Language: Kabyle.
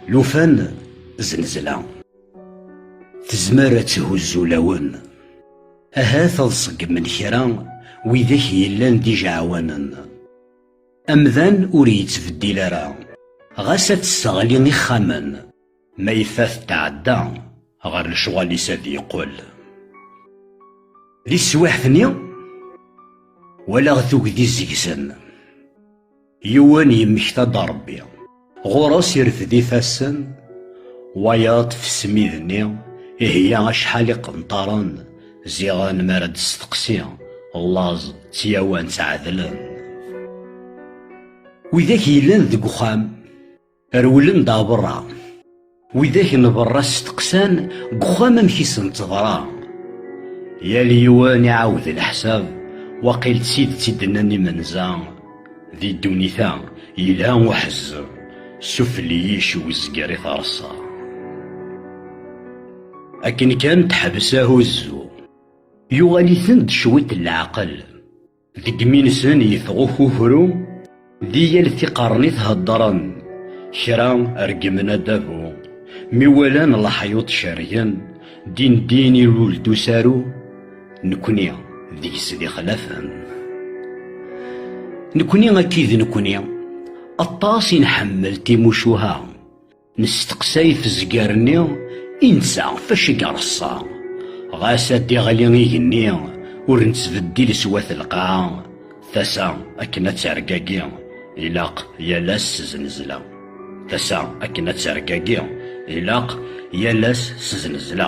lufan znezla tezmer ad thuzzu lawen ahat ad ṣeggmen kra widak yellan d ijeɛwanen amdan ur yettbeddil ara ɣas ad tesseɣli ixxamen Ma yeffa tetɛedda ɣer lecɣal-is ad yeqqel. Di teswiɛt-nni, walaɣ tugdi zegzen. Yiwen yemmekta-d Rebbi. Ɣur-s irfed ifassen, wayeḍ f smid-nni, iheyya acḥal iqenṭaren, ziɣen mi ara d-testeqsi, laẓ d tyawa nttɛedlen. Widak yellan deg uxxam. Rewlen-d ɣer berra. Widak n berra steqsan deg uxxam amek i sen-teḍra. Yal yiwen iɛawed leḥsab, waqil d tidet i d-nnan imenza. Di ddunit-a yelha uḥezzeb, sufel-iyi yiciw zger i terṣa. Akken kan teḥbes ahuzzu. Yuɣal-iten-d cwiṭ n leɛqel. Deg yimi-nsen yeffeɣ ukukru, di yal tiqernit heddren, kra reggmen adabu. Mi walan leḥyuḍ cergen, din din ilul-d usaru, nekni deg-s d ixlafen. Nekni akka i d nekni, aṭas i nḥemmel timucuha. Nesteqsay tezger-nni i netta fac i ireṣṣa. Ɣas ad d-iɣli igenni, ur nettbeddil s wat lqaɛa, tasa akken ad tergagi, ilaq yal ass s znezla. Tasa akken ad tergagi, ilaq yal ass s znezla.